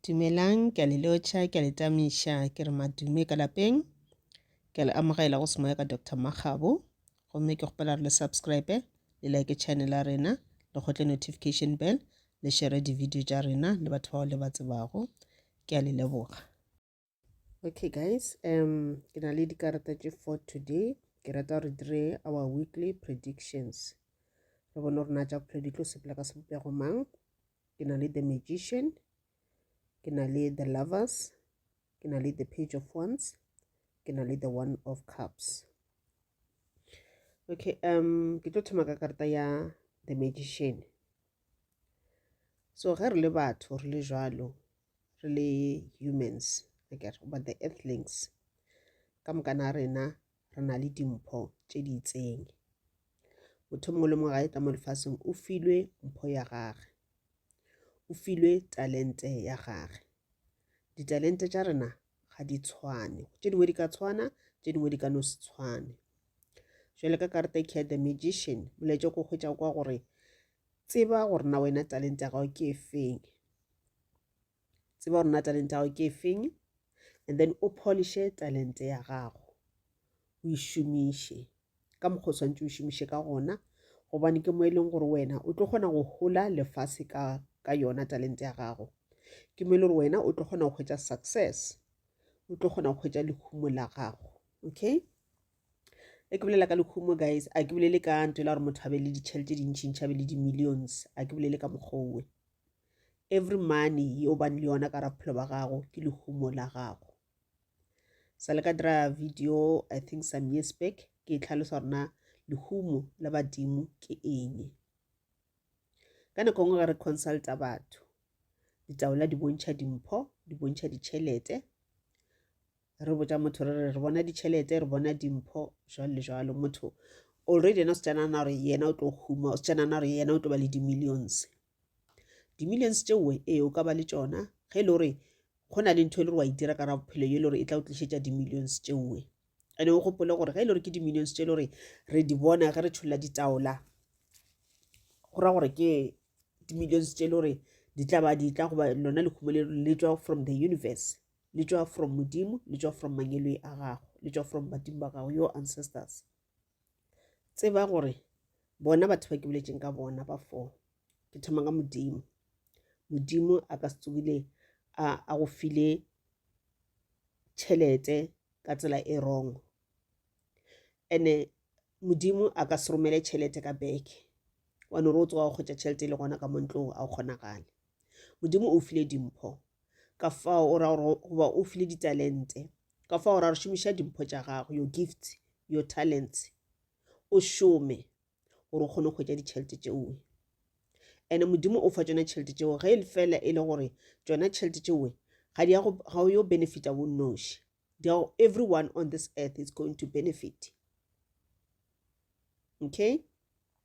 Dumelang, ke a le lotšha, ke a le tamiša, ke re madume ka lapeng. Ke a le amogela go semoya ka Doctor Makgabo. Gomme ke kgopela re le subscribe, le like channel ya rena, le kgotle notification bell, le share di-video tša rena le batho bao le ba tsebago. Ke a le leboga. okay guys um ke na le dikarata tše for today ke rata gore dire our weekly predictions re bone gore na tša bophelo di tlo sepela ka sebopego mang ke na le the magician ke na le the lovers ke na le the page of wands ke na le the one of cups okay um ke tlo thoma ka karata ya the magician so ge re le batho re le jalo re le humans I get goba the earthlings ka moka na rena re na le dimpho tše di itseng motho mongwe le mongwe ga e tla mo lefaseng o filwe mpho ya gage o filwe talente ya gage ditalente tša rena ga di tshwane tše dingwe di ka tshwana tše dingwe di ka no se tshwane jale ka karata e care the magician molaetša ko hwetša kwa gore tseba gore na wena talente ya gago ke efeng tseba gore na talente ya gago ke efeng and then o polishe talente ya gago o e šomiše ka mokgwa o swantse o e šomiše ka gona gobane ke mo e leng gore wena o tlo kgona go hola lefase ka ka yona talente ya gago ke mo e le gore wena o tlo kgona go hwetša success o tlo kgona go hwetša lehumo la gago okay e ke bolela ka lehumo guys a ke bolele ka nto e la gore motho a be le ditšhelete dintšintši a be le di-millions a ke bolele ka mokgowe every money yo bane le yona ka ra bophelo ba gago ke lehumo la gago sa le ka dira video i think some years back ke e tlhalosa gore na lehumo la badimo ke eng ka nako nngwe ga re consulta batho ditaola di bontšha dimpho di bontšha ditšhelete re botsa motho re re re bona ditšhelete re bona dimpho jalo le jalo motho already ena o setšanana gore yena o tlo huma o setšanana gore yena o tlo ba le di-millions Di-millions tše uwe, ee, o ka ba le tšona, ge e le gore go na le ntho e le gore wa itira ka ra bophelo ye e le gore e tla o tlišetša di-millions tše uwe. Ene o gopole gore ge e le gore ke di-millions tše e le gore re di bona ge re tšholla ditaola, go ra gore ke di-millions tše e le gore di tla ba di tla goba lona lehumo le le tswa from the universe le tswa from modimo le tswa from mangelo a gago le tswa from badimo ba gago your ancestors tseba gore bona batho ba ke boletseng ka bona ba four ke thoma ka modimo modimo a ka se tsogile a go file tšhelete ka tsela e wrong ene modimo a ka se romele tšhelete ka beke wa no re o tsoga go kgwetsa tšhelete e le gona ka montlong a o kgonagale modimo o file dimpho ka fao o ra gore goba o file ditalente ka fao o ra gore šomiša dimpho tša gago your gifts your talents o šome gore o kgone go hwetša ditšhelete tšeoe ene modimo o fa tsona tšhelete tšeo ge e le fela e le gore tsona tšhelete tšeoe ga di ga yo benefita bo noši everyone on this earth is going to benefit okay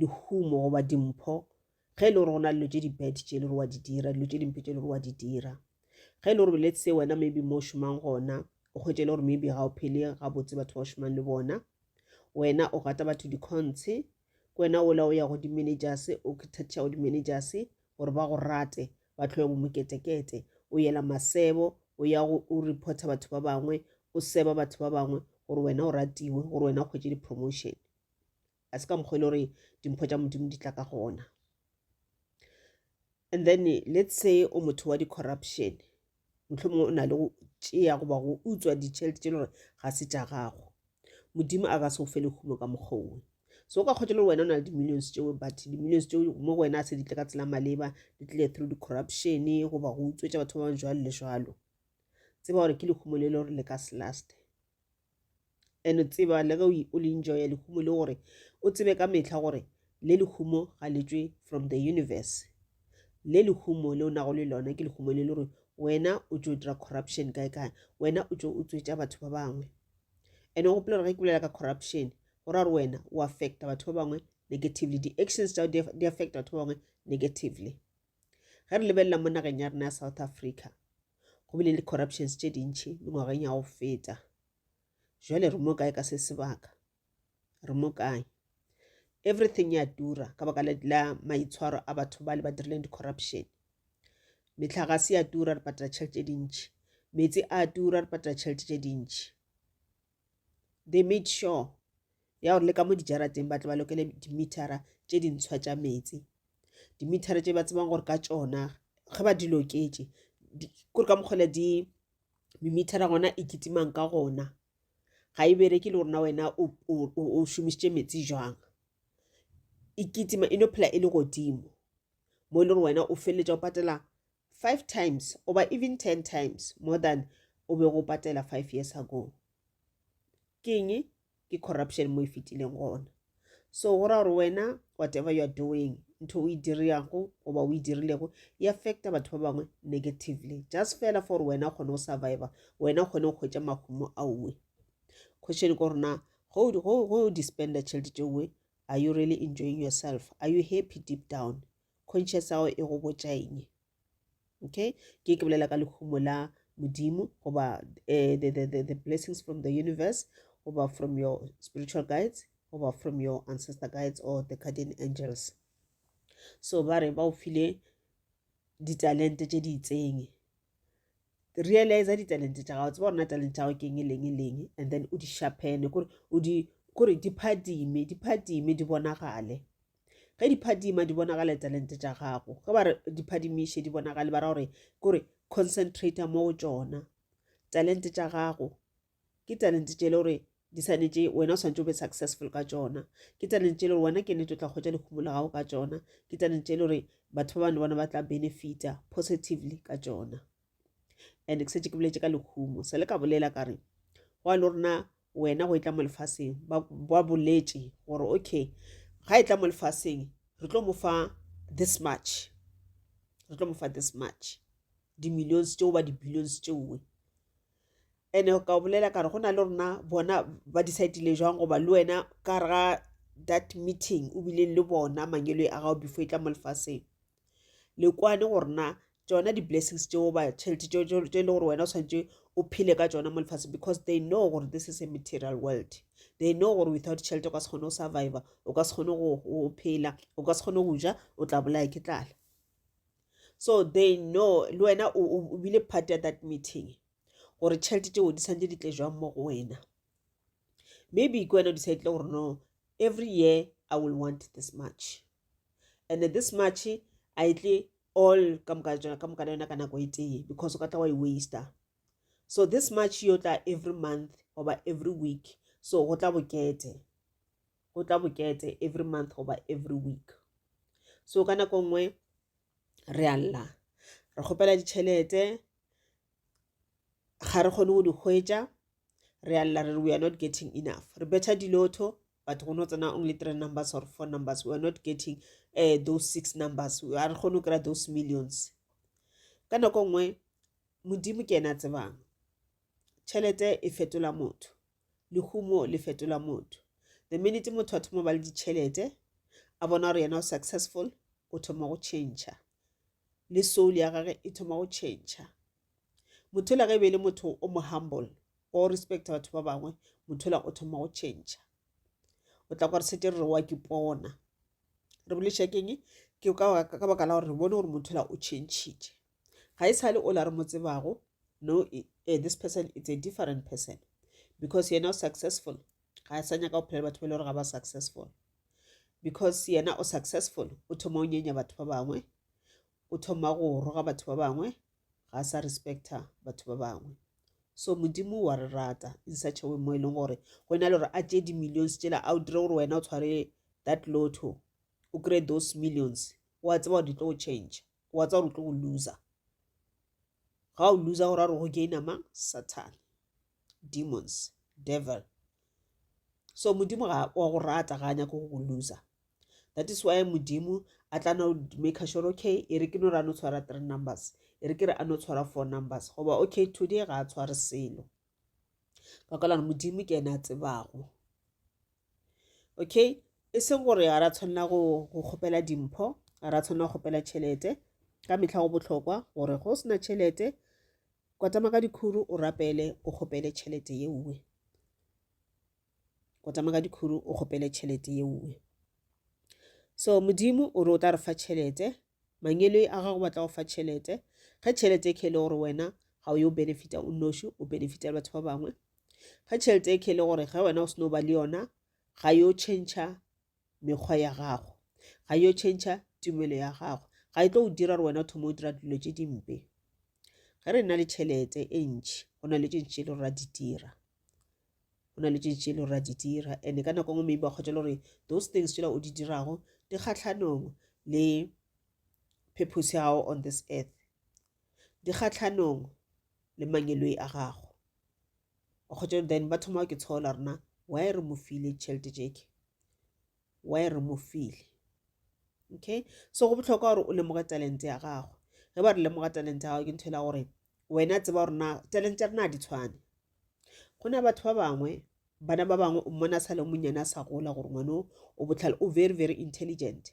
lehumo goba dimpho ge e le gore go na le dilo tše di-bad tše e le gore wa di dira dilo tše dimpe tše e le gore wa di dira ge e le gore let's say wena maybe mo o šomang gona o kgwetše e le gore maybe ga o phele gabotse batho ba o šomang le bona wena o gata batho dicontshe ke wena ola o ya go di-managers o thathiša go di-managers gore ba go rate ba tlhoya bomoketekete o yela masebo o ya o reporta batho ba bangwe o seba batho ba bangwe gore wena o ratiwe gore wena o kgwetše di-promotion Ga se ka mokgwa e le gore dimpho tša Modimo di tla ka gona. And then let's say o motho wa di-corruption, mohlomongwe o na le go tšea goba go utswa ditšhelete tše le gore ga se tša gago. Modimo a ka se o fe lehumo ka mokgwa owe. So o ka kgotsa le wena o na le di-millions tšeo but di-millions tšeo mo go wena a se di tle ka tsela maleba di tlile through di-corruption goba go utswetša batho ba bang jwalo le jwalo. Tseba gore ke lehumo le le gore le ka se laste. and o tseba le ge o le enjoya lehumo le gore o tsebe ka mehla gore le lehumo ga le tswe from the universe le lehumo le o nago le lona ke lehumo le le gore wena o tšo dira corruption kae kae wena o tšo o tswetša batho ba bangwe and o gopola gore ge ke bolela ka corruption go ra gore wena o affecta batho ba bangwe negatively di-actions tsa di affecta batho ba bangwe negatively ge re lebelela mo nageng ya rena ya south africa go bile le corruptions tše dintšhi mengwageng ya go feta jale re mo kae ka se sebaka re mo kae everything ya tura ka baka la maitshwaro a batho ba le ba dirileng di-corruption metlhagase ya tura re patela tšhelete tše dintšhi meetse a tura re patela tšhelete tše dintšhi they made sure ya gore le ka mo dijarateng ba tle ba lokele dimithara tše dintshwa tša metsi dimithara tše ba tsebang gore ka tšona ge ba di loketše kore ka mokgwele di mimithara gona e kitimang ka gona ga e bereke le gorena wena o šomišitše metsi jwang e kitima e no phela e le godimo mo e le gore wena o feleletša o patela five times oba even ten times more than o be go patela five years ago keng ke corruption mo e fetileng gona so go ra gore wena whatever you are doing ntho o e diriyago goba o e dirilego e affecta batho ba bangwe negatively just fela for wena o kgone go survivor wena o kgone go kgwetsa mahumo aowe question ko rona go dispenda tšhelete tšeowe are you really enjoying yourself are you happy deep down conscious ya gago e go botša eng okay ke ke bolela ka lehumo la modimo goba uh, the, the, the, the blessings from the universe goba from your spiritual guides goba from your ancestor guides or the guardian angels so ba re ba o file ditalente tše di itseng realize ditalente tša gago tseba rona talente tša gago ke eng e leng e leng and then o di shapene kore o di kore di phadime di phadime di bonagale ge di phadima di bonagale talente tša gago ge ba re di phadimiše di bonagale ba ra gore kore concentrate mo go tšona talente tša gago ke talente tše le gore di swanetše wena o swanetše o be successful ka tšona ke talente le gore wena ke nete o tla kgwetša lekhumo la gago ka tšona ke talente le gore batho ba bane bona ba tla benefita positively ka tšona and ke setse ke boletse ka lekhumo sa le ka bolela ka re go a le rona wena go e tla mo lefaseng ba boletse gore okay ga e tla mo lefaseng re tlo mo fa this much re tlo mo fa this much di-millions tšeo ba di-billions tšeoe ene ka bolela ka re go na le rona bona ba decidile jwang goba le wena ka re ga that meeting o bileng le bona mangelo a gago before e tla mo lefaseng le kwane gore na tšona di-blessings tšeo ba tšhelete tše e le gore wena o tshwanetse o phele ka tšona mo lefatsheng because they know gore this is a material world they know gore without tšhelete o ka se kgone go surviva o ka se kgone go phela o ka se kgone go ja o tla bolaya ke tlala so they know le wena o bile part ya that meeting gore tšhelete tšeo di tshwanetse di tle jwang mo go wena maybe ke wena o decide gore no every year i will want this much and this much a e tle all ka moka jona ka moka yona ka nako e tee because o ka tla wa e waster so this much yo tla every month oba every week so go tla bokete go tla bokete every month oba every week so ka nako nngwe re a lla re kgopela ditšhelete ga re kgone go di hwetša re a lla re re we are not getting enough re betha dilotho but go no tsena only three numbers or four numbers we are not getting uh, those six numbers a re kgone go kry-a those millions ka nako nngwe modimo ke ena a tsebang tšhelete e fetola motho lehumo le fetola motho the minute motho a thoma ba le ditšhelete a bona gore yena o successful o thoma go change le soul ya gage e thoma go change motho la ge e be e le motho o mo humble o respect batho ba bangwe motho la o thoma go change o tla gore setse re re wa ke pona re bolešakeng ke ka baka la gore re bone gore motho la o changile ga e sa le ola re mo tsebago no eh, this person it's a different person because yena o successful ga a sa nyaka go phela batho ba e le gore ga ba successful because yena o successful o thoma o nyenya batho ba bangwe o thoma go roga batho ba bangwe ga a sa respecta batho ba bangwe so modimo wa re rata in such a way mo e leng gore go e na le gore a tšee di-millions tsela a o dire gore wena o tshware that lotto o kry those millions wa tseba gore di tlo go change wa tsa gore o tlo go loser ga o loser go ra gore go gaina mang satan demons devil so modimo ga wa go rata ga a nyako go go loser that is why modimo a tla no make sure okay e re ke no ra no tshwara three numbers e re ke re a no tshwara four numbers goba okay today ga a tshware selo ka kwalana modimo ke ena a tsebago okay e seng gore ga ra tshwanela go kgopela dimpho ga ra tshwanela go kgopela tšhelete ka metlha go botlhokwa gore go sena tšhelete kwatama ka dikhuru o rapele o kgopele tšhelete ye nngwe go tsamaya ka dikhuru o kgopele tšhelete ye nngwe so modimo o re o tla re fa tšhelete mangelo a gago batla go fa tšhelete ge tšhelete e ke e le gore wena ga o yo benefita o noši o benefita le batho ba bangwe ge tšhelete e ke e le gore ge wena o seno ba le yona ga yo tšhentšha mekgwa ya gago ga yo tšhentšha tumelo ya gago ga e tlo go dira gore wena o thoma o dira dilo tše dimpe ge re na le tšhelete e ntšhi go na le tše ntši e le gore ra di dira go na le tše ntši e le gore ra di dira and-e ka nako ngwe maybe ba kgotsa le gore those things tsela o di dirago di kgatlhanong le purpose ya gago on this earth di kgatlhanong le mangeloi a gago kgotsa then ba thoma ke tshola rena why re mo file tšhelete jeke why re mo file okay so go botlhokwa gore o lemoge talente ya gago ge ba re lemoga talente ya gago ke ntho e la gore wena tseba gore na talente ya rena di tshwane go na batho ba bangwe bana ba bangwe o mmona sa le monnyane a sa gola gore ngwane o botlhale o very very intelligent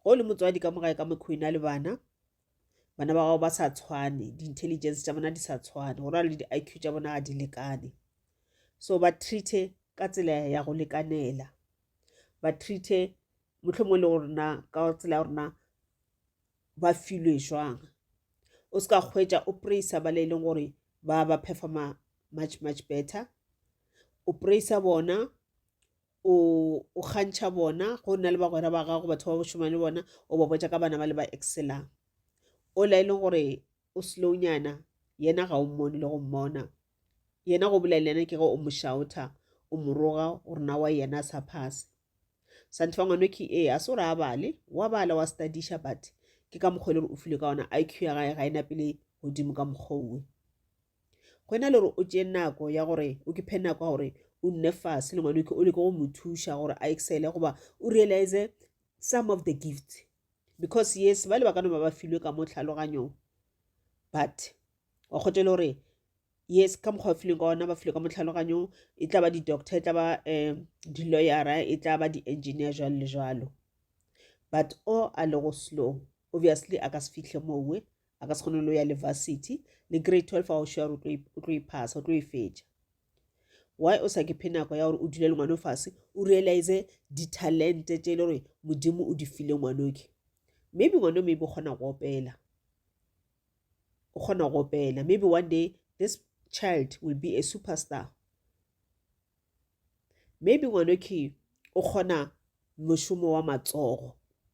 ge o le motswadi ka mogae ka mekgwa ena le bana bana ba gago ba sa tshwane di-intelligence tša bona di sa tshwane go rana le di-i q tša bona ga di lekane so ba treate ka tsela ya go lekanela ba treate motlho mongwe le go rena ka tsela ya rona ba filwe jwang o se ka kgwetsa o praisa ba le e leng gore ba ba performa much much better o praisa bona o o kgantšha bona go nna le bagwera ba gago batho ba bo šomang le bona o ba botša ka bana ba le ba excelang o la e leng gore o slownyana yena ga o mmone le go mmona yena go bolela yena ke ge o mošaotha o moroga gore na wa yena a sa phase santho wa ngwane ke ee a se gore a bale wa bala wa studiša but ke ka mokgwa e le gore o file ka ona iq ya gae ga e napele godimo ka mokgwa owe go ena le gore o tšee nako ya gore o ke phe nako ya gore o nne fase le ngwane o leke go mo thuša gore a excele goba o realize some of the gift because yes ba le ba ka no ba ba filwe ka mo tlhaloganyong but wa kgotse le gore yes ka mokgwa ba fileng ka ona ba filwe ka mo tlhaloganyong e tla ba di-doctor e tla ba um di-lawyera e tla ba di-engineer jalo le jalo but o a le go slow obviously a ka se fitlhe mowe a ka se kgone lo ya le varsity le grade 12 wa o sure o tlo iphasa o tlo e fetša why o sa ke phe nako ya gore o dule le ngwane fase o realize ditalente tše e le gore modimo o di file ngwanoke maybe ngwane maybe o kgona go opela o kgona go opela maybe one day this child will be a superstar maybe ngwanoke o kgona mošomo wa matsogo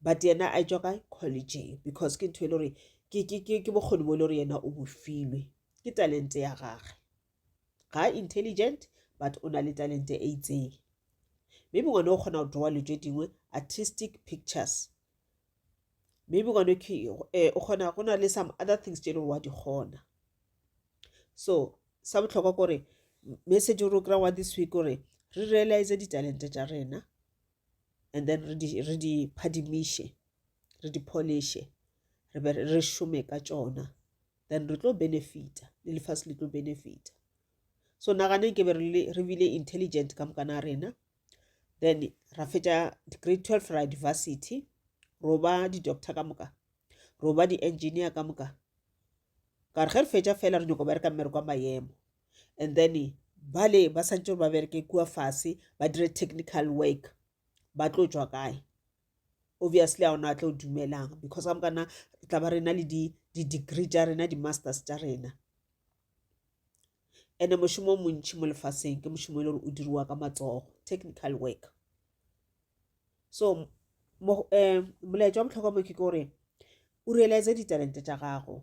but yena a etšwa kae collegeng because ke ntho e le gore ke bokgoni bo e le gore yena o bofilwe ke talente ya gage ga intelligent but o na le talente e itseng maybe ngwana o kgona go drawa le tse dingwe artistic pictures maybe ngwana eh, o kgona go na le some other things tse e le gore wa di kgona so sa botlhokwa kore message o re o kry-a wa this week gore re realize ditalente tša rena and then re di, re di phadimiše re di poliše re be re šome ka tšona then re tlo benefita le lefase le tlo benefita so naganeng ke be re bile intelligent ka mokana rena then ra fetša grade twelve ra diversity roba di-doctor ka moka roba di-engineer ka moka ka re ge re fetša fela re nyoko bereka mmereko wa maemo and then bale ba swanetše gore ba bereke kua fase ba dire technical work ba tlo tšwa kae? Obviously ga gona a tlo dumelang because ka mokana re tla ba re na le di-degree tša rena di-masters tša rena and-e mošomo o montši mo lefaseng ke mošomo e le gore o diriwa ka matsogo technical work so um molaetša wa bohlokwa mo ke gore o realize ditalente tša gago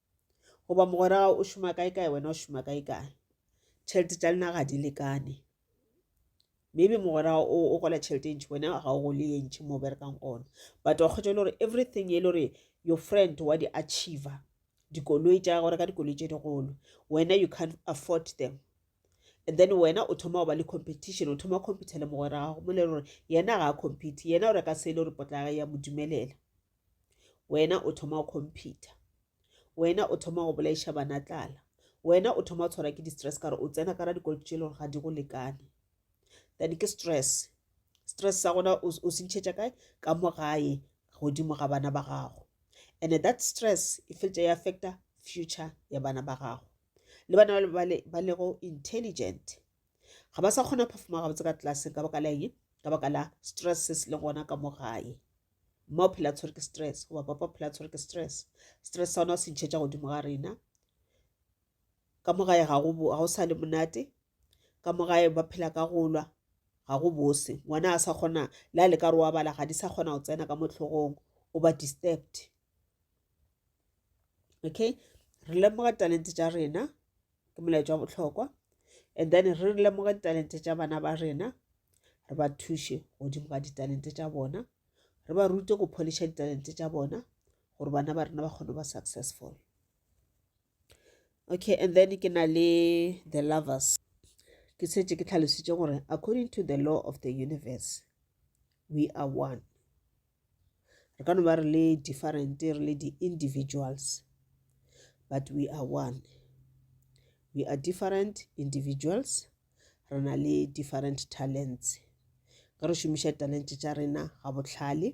goba mogwera gago o šoma kae kae wena o šoma kae kae tšhelete tša lena ga di lekane maybe mogwera o o gola tšhelete e ntšhi wena ga o gole ye ntšhi mo berekang gona but wa kgwetsa e le gore everything e le gore your friend wa di achiever dikoloi tša gore ka dikoloi tše digolo wena you can't afford them and then wena o thoma go ba le competition o thoma compete le mogwera gago mo le gore yena ga a compete yena o reka se e le gore potla ya mo dumelela wena o thoma go compete wena o thoma go bolaiša bana tlala wena o thoma go tshwarwa ke di-stress kare o tsena kara dikoloto tše e lego ga di go lekane then ke stress stress sa gona o se ntšhetša kae ka mo gae godimo ga bana ba gago and that stress e feletša e affecta future ya bana ba gago le bana ba lego intelligent ga ba sa kgona go performa gabotse ka tlelaseng ka baka la eng ka baka la stress se se le gona ka mo gae mma o phela tshwere ke stress goba papa o phela tshwere ke stress stress sa ona o se ntšhetša godimo ga rena ka mo gae ga go sa le monate ka mo gae ba phela ka golwa ga go bose ngwana a sa kgona le a le ka re wa bala ga di sa kgona go tsena ka mo tlhogong o ba disturbed okay re lemoga talente tša rena ke molaetša wa bohlokwa and then re lemoge ditalente tša bana ba rena re ba thuše godimo ga ditalente tša bona re ba rute go pholiša ditalente tša bona gore bana ba rena ba kgone ba successful okay and then ke na le the lovers ke setse ke tlhalositše gore according to the law of the universe we are one re ka no ba re le different re le di-individuals but we are one we are different individuals re na le different talents ka re šomiša talente tša rena ga bohlale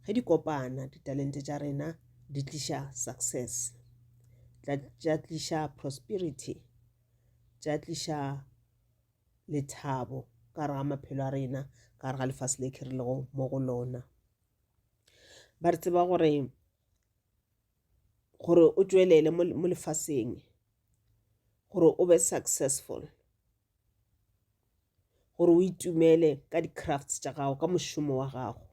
ge di kopana ditalente tša rena di tliša success tša tliša prosperity tša tliša lethabo ka gare ga maphelo a rena ka gare ga lefase le khirilego mo go lona ba re tseba gore gore o tšwelele mo lefaseng gore o be successful gore o itumele ka di-crafts tša gago ka mošomo wa gago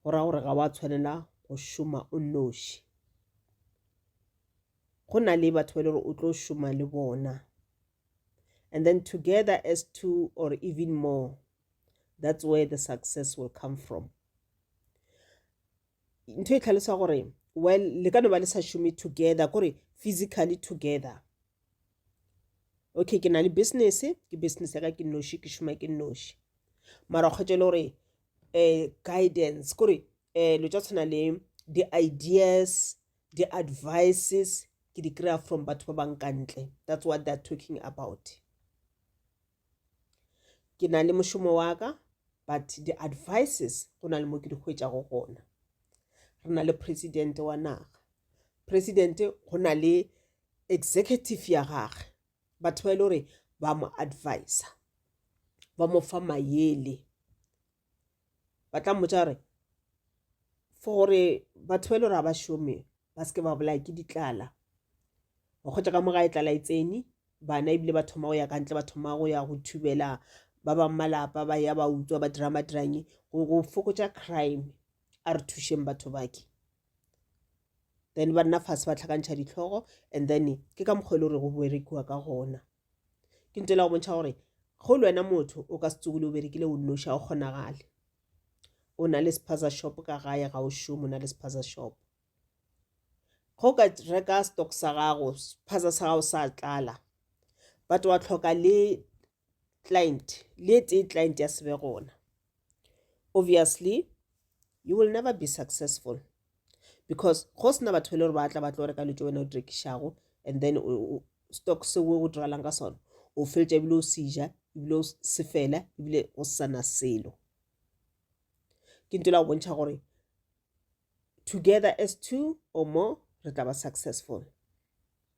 go ra gore ga wa tshwanela go šoma o noši go na le batho ba le gore o tlo šoma le bona and then together as two or even more that's where the success will come from ntho e tlhalosa gore well le ka no ba le sa šome together kore physically together okay ke na le business ke business ya ka ke noši ke šoma ke noši mara kgwetsa e le gore um guidance kore um eh, lo tsa tshwana le di-ideas Di advices ke di kry-a from batho ba bang ka ntle. That's what they're talking about. Ke na le mošomo wa ka but di advices go na le mo ke di hwetšago gona. Re na le president wa naga. President go na le executive ya gagwe batho ba e le gore ba mo advisa ba mo fa mayele ba tla mmotsa gore for gore batho ba e le gore ga ba šome ba seke ba bolaya ke ditlala wa kgwetsa ka mo ga e tlala e tsene bana ebile ba thoma go ya ka ntle ba thoma go ya go thubela ba bang malapa ba ya ba utswa ba dira madirange go fokotsa crime a re thušeng batho bake then ba nna fase ba tlhakantšha ditlhogo and then ke ka mokgwa e le gore go berekiwa ka gona ke ntho e le go bontšha gore go le wena motho o ka se tsogile o berekile o nnoši ga o kgonagale o na le sephaza shop ka gae ga o šomo o na le sephaza shop go ka reka stock sa gago sephaza sa gago sa tlala but wa tlhoka le client le tee client ya sebe gona obviously you will never be successful because go sena batho le gore ba tla ba tlo reka lutse wena o direkišago and then stock se o diralang ka sona o feletša ebile o seja ebile o se fela ebile o sana selo ke nto la go bontšha gore together as two or more re tla ba successful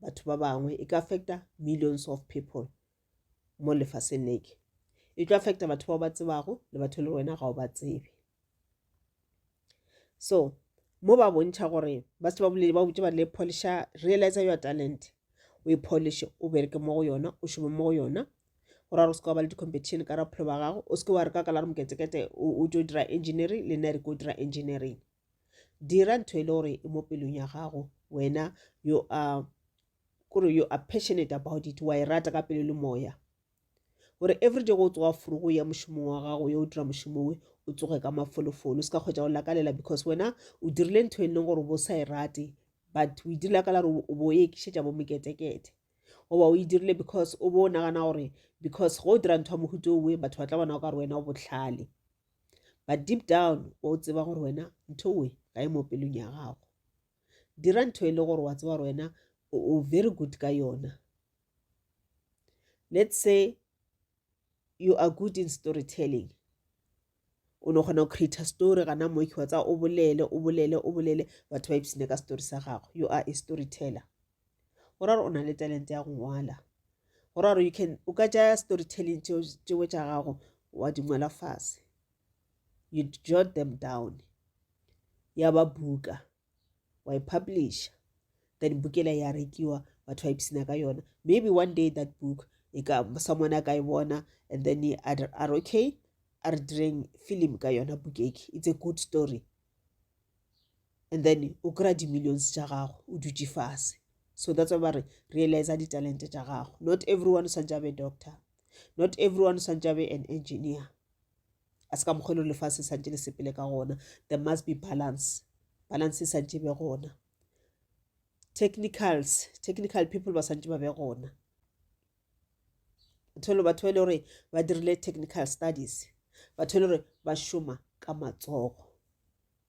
batho ba bangwe e ka affecta millions of people mo lefaseng leke e tlo affecta batho bao ba tsebago le batho le wena ga o ba tsebe so mo ba bontšha gore ba se ba bolele ba botse ba le polisha realize your talent o e polishe o bereke mo go yona o šome mo go yona gore a re o seke wa ba le di-competition ka rapholo ba gago o seke wa re ka ka la re moketsekete o tso dira engineering le nna re ko dira engineering dira ntho e le gore e mo pelong ya gago wena yo a kore you are passionate about it wa e rata ka pelo le moya gore everyday go tsoga furu go ya mošomong wa gago yo o dira mošomo we o tsoge ka mafolofolo o se ka kgwetsa go lakalela because wena o dirile ntho e leng gore bo sa e rate but o e direla ka la gore o bo o ekišetša bo moketekete goba o e dirile because o bo o nagana gore because go o dira ntho ya mohuto owe batho ba tla bona o ka re wena o botlhale but deep down wa o tseba gore wena ntho we ga e mo pelong ya gago dira ntho e le gore wa tseba gore wena o very good ka yona let's say you are good in storytelling o no kgona go creator story gana mo ke wa tsa o bolele o bolele o bolele batho ba ipsene ka story sa gago you are a storyteller go ra gore o na le talente ya go ngwala go ra gore you can o ka tšaya story telling tšeo tša gago wa di ngwala fase you jot them down ya ba buka wa e publisha then bukela ya rekiwa batho ba ipsina ka yona maybe one day that book e ka someone a ka e bona and then a re okay a re direng film ka yona bukeki it's a good story and then o kry-a di-millions tša gago o dutše fase so that's why ba re realize di-talente tša gago not everyone o swantse a be doctor not everyone o swantse a be an engineer a se ka mokgwa e le gore lefase e swantse le sepele ka gona there must be balance balance e swantse e be gona technicals technical people ba swantse ba be gona tholo batho ba e le gore ba dirile technical studies batho e le gore ba šoma ka matsogo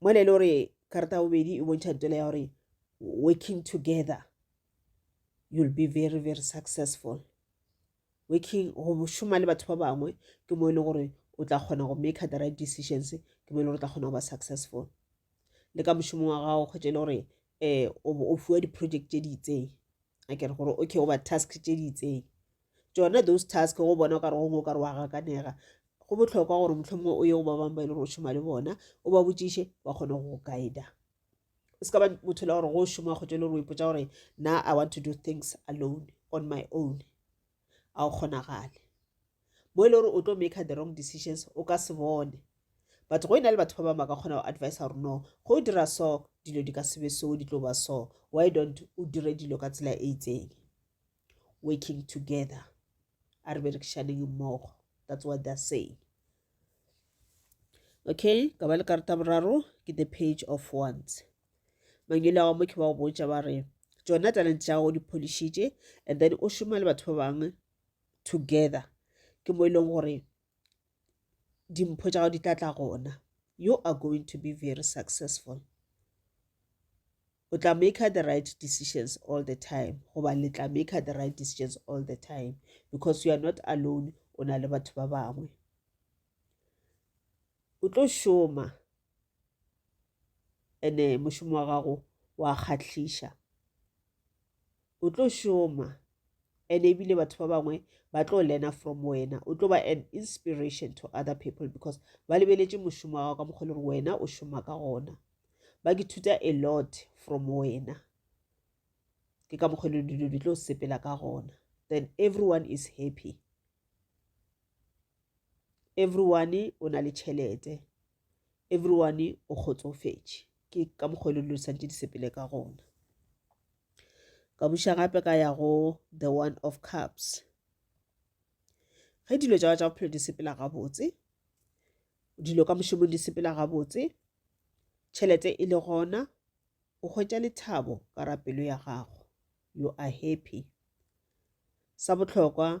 mola e le gore karata ya bobedi e bontšha ntwela ya gore working together you'll be very very successful working go šoma le batho ba bangwe ke mo e le gore o tla kgona go make the right decisions ke mo e le gore o tla kgona go ba successful le ka mošomong wa gago kgwetse e le gore eh o bo o fiwa di-project tše di itseng a kere gore okay goba task tše di itseng tsona those task go bona o kare gongwe o kare wa gakanega go botlhokwa gore motlho mongwe o ye go ba bangwe ba e le gore o šoma le bona o ba botšiše ba kgone go guida o se ka ba motho le gore go šoma kgotso e le gore o ipotsa gore na i want to do things alone on my own a o kgonagale mo e le gore o tlo make the wrong decisions o ka se bone but go e na le batho ba bangwe ba ka kgona go advise gore no go o dira so dilo di ka sebe so di tlo ba so why don't o dire dilo ka tsela e itseng working together a re berekišaneng mmogo that's what they're saying okay ka ba le karata boraro ke the page of ones mangele a mokhe wa go botša ba re tšona talent tša gago di pholišitše and then o šoma le batho ba bangwe together ke mo e leng gore dimpho tša gago di tla tla gona you are going to be very successful o tla maker the right decisions all the time goba le tla maker the right decisions all the time because you are not alone o na le batho ba bangwe o tlo šoma ene mošomo wa gago wa kgahliša o tlo šoma ene ebile batho ba bangwe ba tlo learner from wena o tlo ba an inspiration to other people because ba lebeletše mošomo wa gago ka mokgwa le gore wena o šoma ka gona ba ke thuta a lot from wena ke ka mokgwa le dilo di tlo sepela ka gona then everyone is happy everyone o na le tšhelete everyone o kgotsofetše ke ka mokgwa le lo santse di sepele ka gona ka buša gape ka ya go the one of cups ge dilo tša tša bophelo di sepela gabotse dilo ka mošomong di sepela gabotse tšhelete e le gona o hwetša lethabo ka rapelo ya gago you are happy sa bohlokwa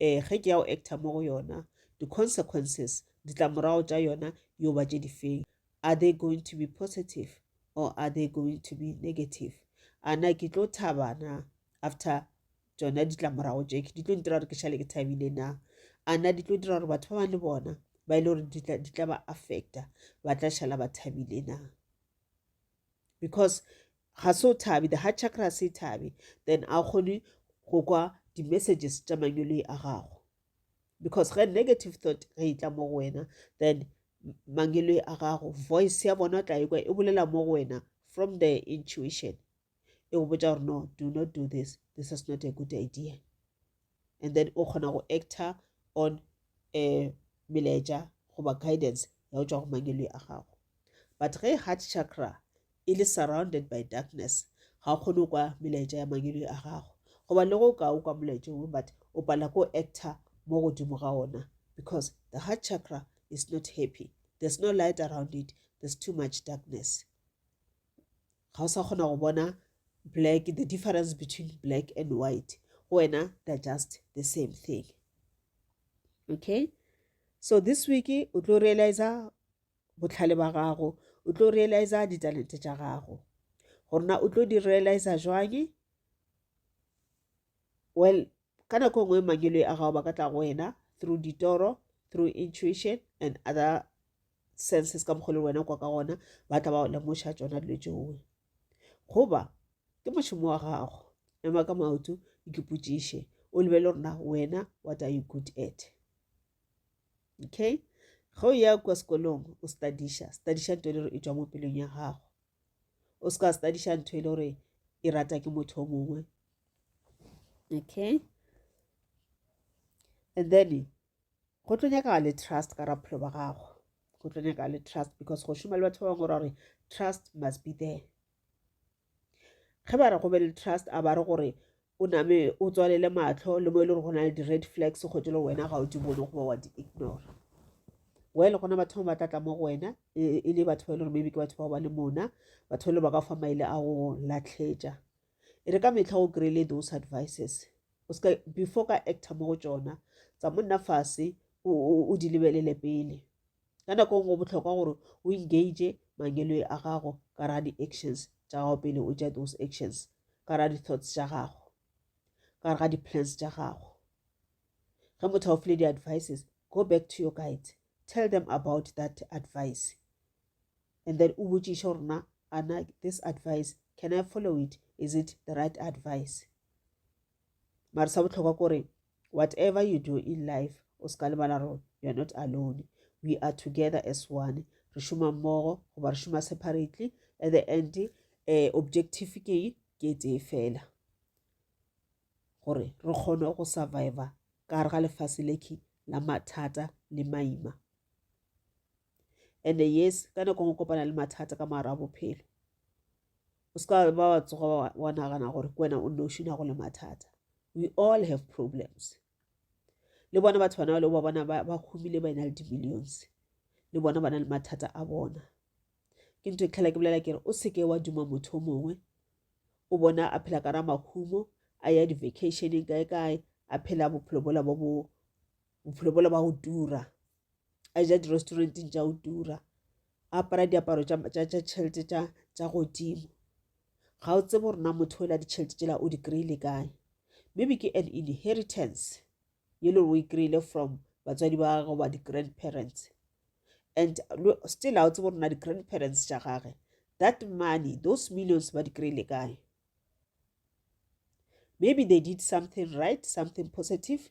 um ge ke ya go actor mo go yona di-consequences ditlamorago tša yona yo ba tše difeng are they going to be positive or are they going to be negative a na ke tlo thaba na after tšona ditlamorago tše di tlo ntira gore ke šale ke thabile na a na di tlo dira gore batho ba bang le bona ba e le gore di tla ba affecta ba tla šala ba thabile na because ga se o thabi the heart chakra ga se e thabi then a o kgone go kwa di-messages tša manyoloi a gago because ge negative thought ge e tla mo go wena then mangeloi a gago voice ya bona o tla ekwa e bolela mo go wena from the intuition e go botsa gore no do not do this this is not a good idea and then o kgona go actor on um melaetša goba guidance ya go tšwa go mangeloi a gago but ge heart chakra e le surrounded by darkness ga o kgone kwa melaetša ya mangeloi a gago goba le go ka o kwa molaetša ongwe but o pala ko actor mo godimo ga ona because the heart chakra is not happy there's no light around it there's too much darkness ga o sa kgona go bona black the difference between black and white go wena they're just the same thing okay so this week o tlo realiza botlhale ba gago o tlo realiza ditalente tša gago gorena o tlo di realiza jwang well Ka nako ngwe mangelo a gago ba ka tla go wena through ditoro, through intuition and other senses ka mokgwa le wena kwa ka gona ba tla ba lemoša tsona dilo tšeoe goba ke mošomo wa gago ema ka maoto ikipotšiše o lebele gore na wena what are you good at okay ge o ya kwa sekolong o studiša studiša nto e le gore e tswa mo pelong ya gago o se ka studiša ntho e le gore e rata ke motho o mongwe okay and then go tlo nyaka le trust ka raphelo ba gago go tlo nyaka le trust because go šoma le batho ba bangwe ra gore trust must be there ge ba re go be le trust a ba re gore o name o tswalele matlho le mo e le gore go na le di-red flags go tse le wena ga o di bone goba wa di-ignore well gona batho ba tlatla mo go wena e, e, e le batho ba e le gore maybe ke batho bao ba le mona batho ba e le ba ka fa maele a go latlhetša e re ka mehla o kry-ile those advices o ska before ka actor mo go tšona tsa monna fase o di lebelele pele ka nako e nngwe botlhokwa gore o engage mangeloi a gago ka ra di-actions tša gago pele o ja those actions ka ra di-thoughts tša gago ka re ga di-plans tša gago ge motho a o file di-advices go back to your guides tell them about that advice and then o botšiše gore na ana this advice can i follow it is it the right advice mara sa botlhokwa kore whatever you do in life o se ka lebala gore you are not alone we are together as one re šoma mmogo goba re šoma separately at the end um objective ke ke tee fela gore re kgone go survivor ka gare ga lefase leke la mathata le maima and yes ka nako ngwe kopana le mathata ka moara wa bophelo o se ka ba wa tsoga wa nagana gore ke wena o nne o šina go le mathata we all have problems le bona batho bana ba le ba bona ba humile ba ena le di-millions le bona ba na le mathata a bona ke ntho e tlhela ke bolela kere o seke wa duma motho o mongwe o bona a phela ka ra mahumo a ya di-vacationeng kae kae a phela bophelo bola bo bophelo bola ba go tura a ja di-restauranteng tša go tura a apara diaparo tša tšhelete tša godimo ga o tsebe gore na motho o la ditšhelete tšela o di kry-ile kae maybe ke an inheritance ye le gore o e kry-ile from batswadi ba gagwe goba di-grandparents and still a o tsebe gore na di-grandparents tša gage that money those millions ba di kry-ile kae maybe they did something right something positive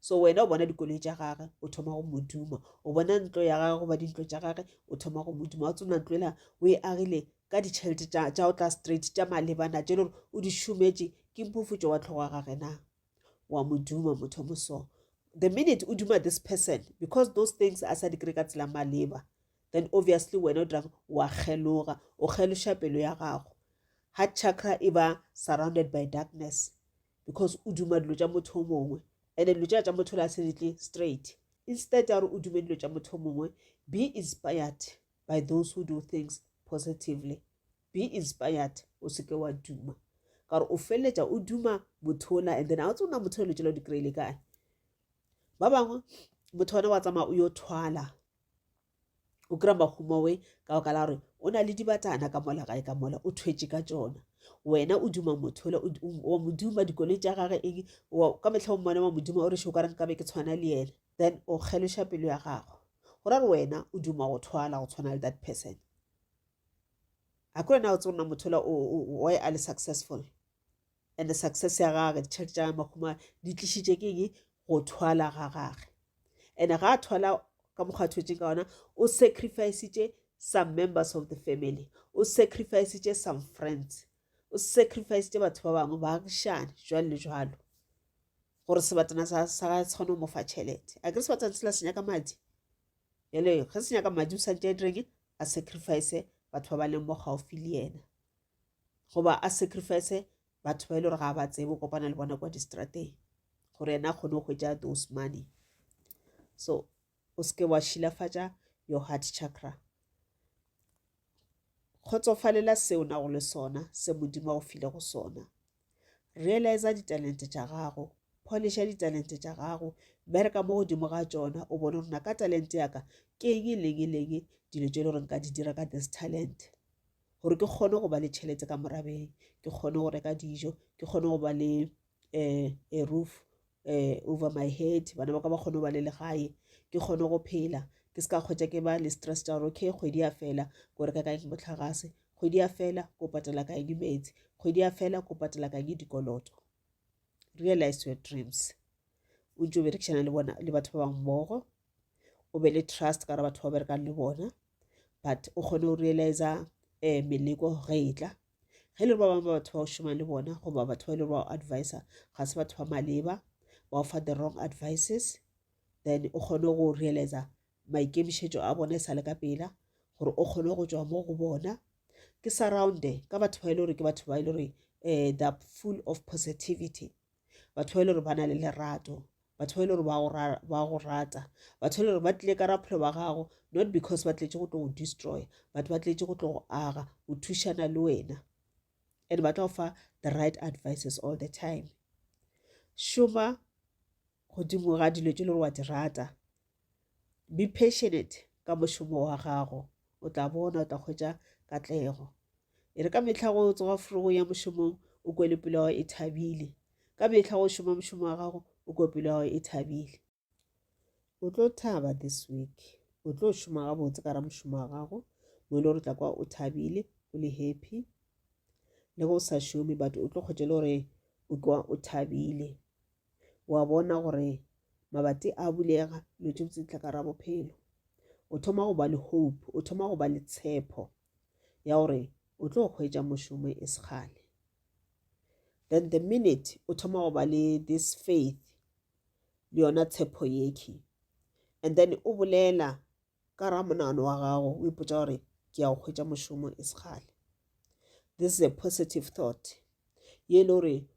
so wena o bona dikoloi tša gage o thoma go moduma o bona ntlo ya gage goba dintlo tša gage o thoma go moduma wa tsona ntlo ela o e agile ka ditšhelete tša o tla straight tša malebana tše lore o di šometše ke mpofutšo wa tlhogo wa gage na wa moduma motho moso the minute o duma this person because those things a sa di kry ka tsela maleba then obviously wena o dirang wa kgeloga o kgeloša pelo ya gago heart chakra e ba surrounded by darkness because o duma dilo tša motho o mongwe and dilo tša tša motho le a se di tle straight instead ya gore o dume dilo tša motho o mongwe be inspired by those who do things positively be inspired o seke wa duma ka gore o feleletša o duma motho ola and then a o tsona motho o letšela o di kry-ile kae ba bangwe motho ona wa tsamaya o yo thwala o kry-a mahumawe ka baka la gore o na le dibatana ka mola gae ka mola o thwetše ka tsona wena o duma motho ole wa moduma dikoloi tša gage eng ka metlha o mmone wa moduma o re šo ka reng ka be ke tshwana le yena then o kgeloša pelo ya gago go ra re wena o duma go thwala go tshwana le that person a ko wena o tsona motho ola why a le successful and the success ya gage ditšhelete tša makgoma di tlišitše ke eng go thwala ga gage and ga a thwala ka mokgwa thwetseng ka ona o sacrificitše some members of the family o sacrificitše some friends o sacrificitše batho ba bangwe baagišane jwalo le jwalo gore sebatana sa gae se kgone go mofa tšhelete a kere sebatana sela senya ka madi jale ge senya ka madi o santse a direng a sacrifice batho ba ba leng mo gaufi le yena goba a sacrifice batho ba e le gore ga ba tsebe o kopana le bona kwa distrateng gore ena a kgone go hwetša those money so o seke wa šilafatša your heart chakra kgotsofalela seo nago le sona se modimo a go file go sona realiza ditalente tša gago polisha ditalente tša gago bereka mo godimo ga tšona o bone gore na ka talente yaka ke eng e leng e leng dilo tse e le gore nka di dira ka this talent gore ke kgone go ba le tšhelete ka morabeng ke kgone go reka dijo ke kgone go ba le um a roof um over my head bana ba ka ba kgone go ba le legae ke kgone go phela ke se ka kgwetsa ke ba le stress tsa gore okay kgwedi ya fela ko reka kae motlhagase kgwedi ya fela ko patela kae dimetsi kgwedi ya fela ko patela kae dikoloto realize your dreams o ntse o berekisana le bona le batho ba bangwe mmogo o be le trust ka re batho ba berekang le bona but o kgone go realiza um meleko ge e tla ge le ba bangwe ba batho ba o šomang le bona goba batho ba e le gore ba o advisa ga se batho ba maleba ba o fa the wrong advices then o kgone go realiza maikemišetšo a bona e sa le ka pela gore o kgone go tšwa mo go bona ke surrounde ka batho ba e le gore ke batho ba e le gore um eh, they're full of positivity batho ba e le gore ba na le lerato batho ba e le gore ba go rata batho e le gore ba tlile ka raphelo ba gago not because ba tletše go tlo go destroya but ba tletše go tlo go aga go thušana le wena and ba tlo fa the right advices all the time šoma godimo ga dilo tše le gore wa di rata Be passionate ka mošomo wa gago, o tla bona o tla hwetša katlego. E re ka mehla go tsoga frogong ya mošomong o kwe le pelo ya gago e thabile. Ka mehla go šoma mošomo wa gago o kwe pelo ya gago e thabile. O tlo thaba this week, o tlo šoma gabotse ka ra mošomo wa gago mo e le gore tla kwa o thabile o le happy le go sa šome but o tlo kgwetše le gore o kwa o thabile wa bona gore mabati a bulega dilo tše botse di tla ka ra bophelo o thoma go ba le hope o thoma go ba le tshepo ya gore o tlo kgwetsa mošomo e segale then the minute o thoma go ba le this faith le yona tshepo yekhi and then o bolela Ka ra monagano wa gago o ipotsa gore ke ya go hwetša mošomo e sekgale this is a positive thought ye e le gore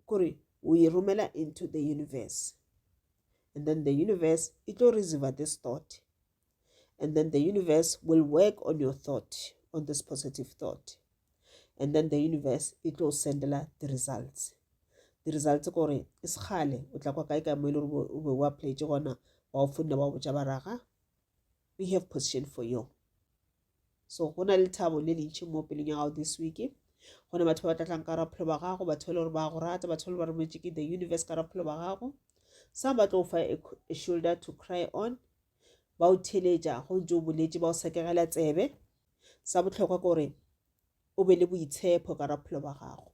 kore o e romela into the universe and then the universe e tlo receiver this thought and then the universe will work on your thought on this positive thought and then the universe e tlo sendela di-results di-results kore e sekgale o tla kwa kae kae mo e le gore o be o applyetse gona ba o fonne ba o botša baraga we have position for you so go na le thabo le lentšhi mo pelong ya gago this week go na batho ba ba tlatlang ka raphelo ba gago batho ba e le gore ba go rata batho ba le ba rometse ke the universe ka raphelo ba gago some ba tlo fa a shoulder to cry on ba o theletša go ntse o boletse ba o sekegela tsebe sa bohlokwa ke gore o be le boitshepo ka raphelo ba gago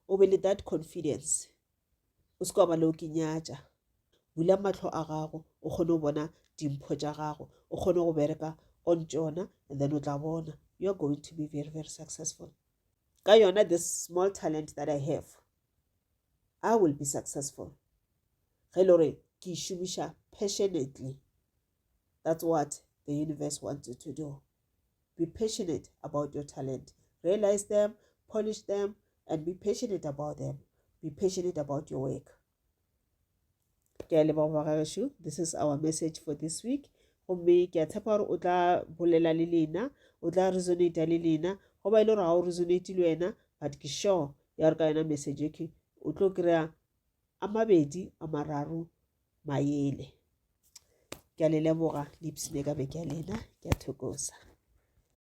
o be le that confidence o se ka ba le o ke nyatša bula matlho a gago o kgone go bona dimpho tša gago o kgone go bereka on tšona and then o tla bona you are going to be very very successful ka yona this small talent that i have i will be successful ge e le gore ke e šomiša passionately That's what the universe wants you to do. Be passionate about your talent. Realize them, polish them, and be passionate about them. Be passionate about your work. This is our message for this week. gomme ke a tshepa gore o tla bolela le lena o tla resonata le lena go ba e le gore ga o resonate le wena but ke sure ya gore ka yona message eke o tlo kry-a a mabedi a mararo mayele ke a le leboga le ipsene ka be ke a lena ke a thokoza